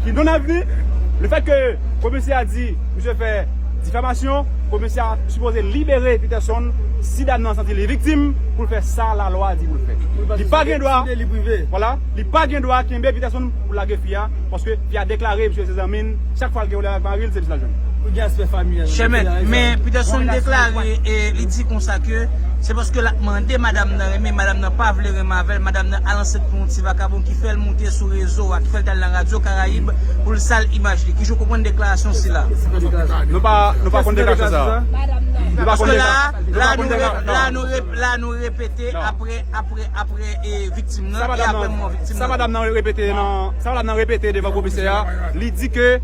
Ki non avni, le fèt ke komisè a di misye fè difamasyon, komisè a sipoze libere Peterson si dam nan santi li viktim pou l fè sa lalwa di pou l fè. Li pa gen dwa, vwala, li pa gen dwa kenbe Peterson pou lage fi a, paske fi a deklare misye se zanmi l, chak fwa l gen pwoblèm avèk mari l se misye l ap jwenn. Chè mèt, men Peterson deklare e li di konsa ke se paske l ap mande madam nan renmen, madam nan pa vle renmen avè l, madam nan al ansent pou yon ti vakabon. fè l moute sou rezo a, ki fè l t al nan radyo Karayib pou l sal imaj li. Kijan w konprann deklarasyon sila? Nou pa konn deklarasyon sa a. Nou pa konn deklarasyon sa a. La nou repete apre viktim nan e apre mò viktim nan. Sa madam nan repete devan komisè a, li di ke.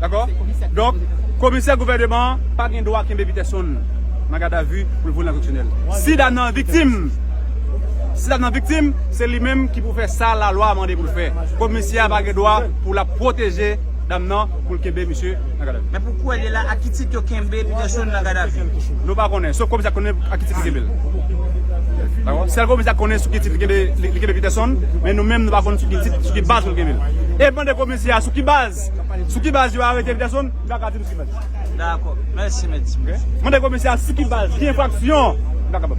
Dakò? Donk, komisè gouvèneman an pa gen dwa kenbe Peterson nan gadavi pou l voye l nan koksyonèl. Si dam nan viktim, si dam nan viktim, se li menm ki pou fè sa lalwa mande pou l fè. Komisè a pa gen dwa pou l ap pwoteje dam nan pou l kenbe misye nan gadavi. Men pou kouwè li la, ak ki tit yo kenbe Peterson nan gadavi? Nou pa konnen. Sof komisè a konnen ak ki tit li kenbe l. Dakò? Sèl komisè a konnen sou ki tit li kenbe Peterson, men nou menm nou pa konnen sou ki tit, sou ki baz pou l kenbe l. E mande komi. Se a sou ki baz? Sou ki baz yo arete Viterson? M pa ka di nou sou ki baz. Dakò. Mèsi mèt. Mande komisè a sou ki baz, ki enfraksyon? M pa kapab.